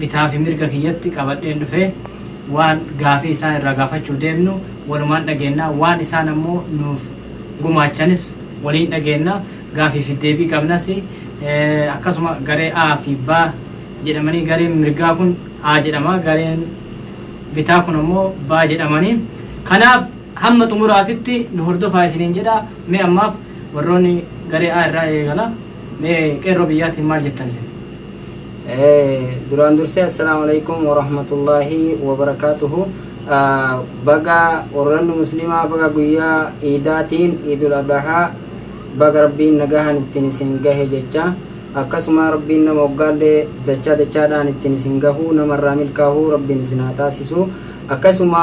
bitaa fi mirga kiyyatti qabadheen dhufee waan gaafii isaan irraa gaafachuuf deemnu walumaan dhageenna waan isaan ammoo nuuf gumaachanis waliin dhageenna gaafii fi deebii qabnas akkasuma garee A fi B jedhamanii gareen mirgaa kun A jedhama gareen bitaa kun ammoo B jedhamanii kanaaf hamma xumuraatitti nu hordofaa isiniin jedha mee ammaaf warroonni garee A irraa eegala mee qeerroo biyyaatiin maal jettan isin Duraan dursee assalaamu alaikum warahmatullaahi wabarakaatuhu baga warranni muslimaa baga guyyaa iidaatiin iidul adahaa baga rabbiin nagahaan ittiin isin gahe jecha akkasuma rabbiin nama hoggaallee dachaa dachaadhaan ittiin isin gahuu namarraa milkaahuu rabbiin isin haa taasisu akkasuma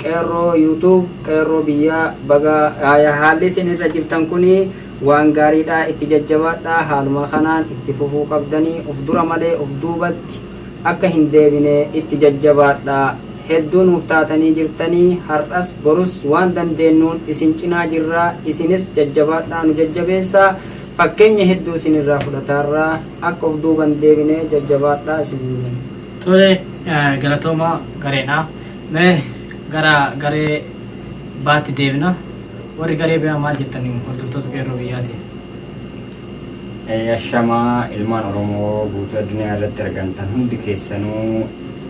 qeerroo yuutuub qeerroo biyyaa baga haalli isin irra jirtan kuni Waan gaariidha itti jajjabaadhaa haaluma kanaan itti fufuu qabdani of dura malee of duubatti akka hin deebine itti jajjabaadhaa hedduu nuuf taatanii jirtani har'as borus waan dandeennuun isin cinaa jirra isinis jajjabaadhaa nu jajjabeessaa fakkeenya hedduu isin irraa fudhataarra akka of duuba hin deebine jajjabaadhaa isiniin jenna. Tole galatoomaa gareedha. Mee gara garee B'tti deebina. Warri garee biraa maal jettan hordoftoota Qeerroo biyyaatiin? Ashamaa ilmaan Oromoo guutuu addunyaa irratti argamtan hundi keessanuu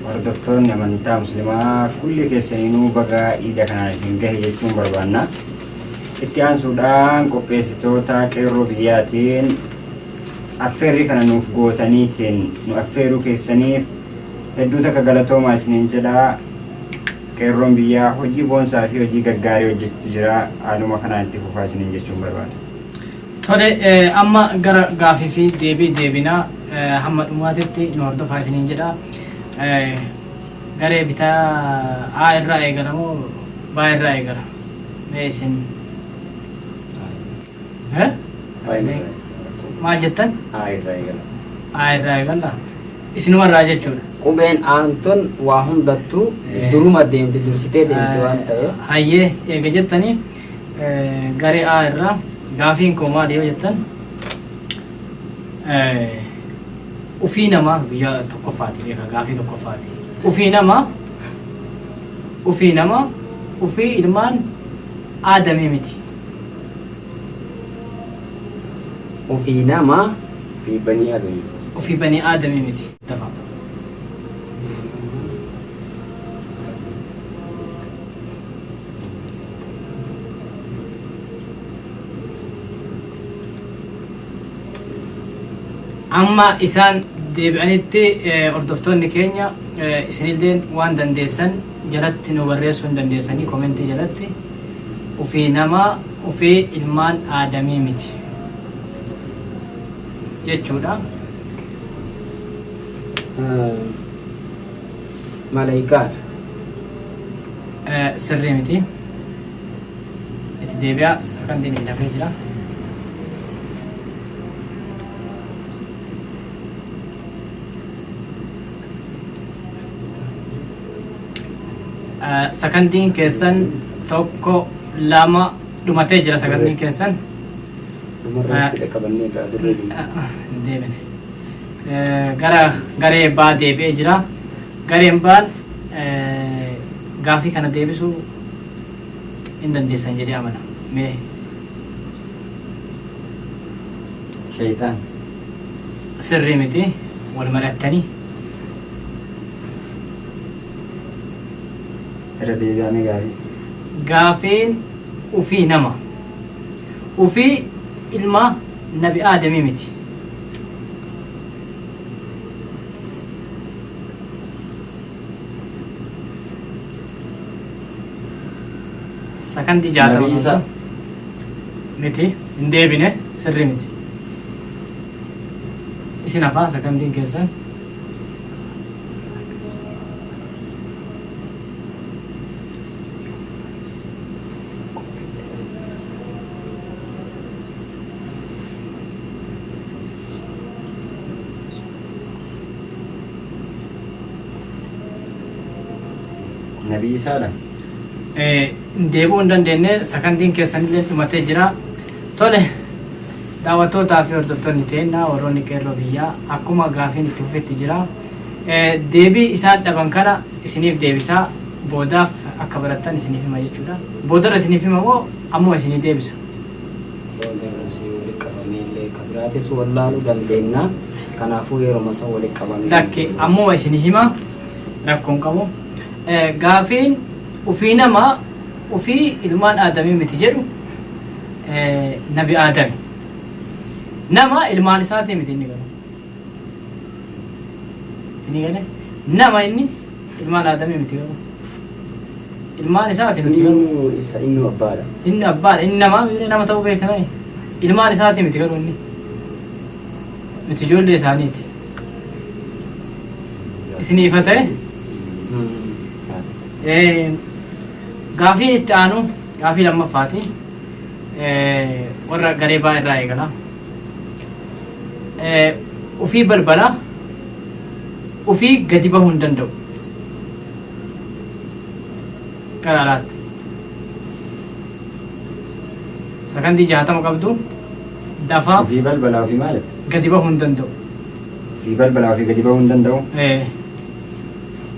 hordoftoonni amantaa muslimaa kulli keessaniinuu baga iida kanaan isin gahe jechuun barbaanna. Itti aansuudhaan qopheessitoota qeerroo biyyaatiin affeerrii kana nuuf gootaniitiin nu affeeruu keessaniif hedduu takka galatoomaa isiniin jedha. Qeerroon biyyaa hojii boonsaa fi hojii gaggaarii hojjechutu jira. Haaluma kanaan itti fufaa isiniin jechuun barbaada. Tole, amma gara gaaffii fi deebii deebina. Hamma dhumaatitti nu hordofaa isiniin jedha. Garee bitaa A irraa eegala moo B irraa eegala? Mee isin. Eh? Faayinii Maal jettan? A irraa eegala. A irraa eegalla. Isinuma irraa jechuudha. Qubeen aantun waa hundattuu Eh. duruma deemti dursitee deemti waan ta'eef. Hayyee eega jettanii eh, garee A irraa gaafiin koo maali yoo jettan eh, ufii namaa guyyaa tokkoffaati beeka gaafii tokkoffaati. Ufii namaa ufii namaa ufii ilmaan aadamii miti. Ofii nama fi banii aadami. Ofii banii aadami miti. Dafa. Amma isaan deebi'anitti eh, hordoftoonni keenya eh, isinilleen waan dandeessan jalatti nu barreessuu hin dandeessanii komentii jalatti. Ufee nama ufee ilmaan aadamii miti jechuudha. Malaykaadha. Sirrii miti. Itti deebi'aa sakantiin itti dafee jira. Sakandiin keessan tokko lama dhumatee jira sakandiin keessan. Dhumarratti dhaqqabannee irraa dirree deemna. Hin deemine. Eh, Gara garee baa deebi'ee jira. Gareen baan eh, gaafii kana deebisuu hin dandeessan jedhee amana. Mee Shaytaan. sirrii miti wal mari'attanii Irra deebi'aa mee gaafii. Gaafiin ufii nama. Ufii ilma nabi aadamii miti. Sakandii jaatama. Nabi Iisaa. Miti hin deebine sirri miti. Isin hafaa sakandiin keessan. na dhiisaadha. Eh, deebi'uu hin dandeenye sakandiin keessanillee dhumatee jira tole Daawattoota fi hordoftoonni teenna warroonni Qeerroo biyyaa akkuma gaafiin itti fufetti jira. Deebii isaan dhaban kana isiniif deebisaa boodaaf akka barattan isiniif hima jechuudha. Boodarra isiniif hima moo ammuma isinii deebisa? Boodarra si walitti qabamee illee ka biraatis wallaaluu dandeenya. Kanaafuu yeruma san walitti qabamee. Lakki ammuma isinii hima rakkoon qabu. Gaafiin ufii nama ufii ilmaan Aadamii miti jedhu nabi Aadami. Nama ilmaan isaatii miti inni garuu. Inni galee nama inni ilmaan Aadamii miti garuu. Ilmaan isaatii miti garuu. Inni isa inni abbaadha. Inni abbaadha. Inni namaa miiree nama ta'uu beeka ta'e. Ilmaan isaatii miti garuu inni. Miti ijoollee isaaniiti. Isinii ifa ta'e Gaafiin itti aanu gaafii lammaffaati. Warra garee baa irraa eegala. Ufii balbala ufii gadi bahuu hin danda'u. Gara alaatti. Sakandii jaatama qabdu dafaa Ofii balbalaa ofii maali? gadi bahuu hin danda'u. Ofii balbalaa ofii gadi bahuu hin danda'u. Eh,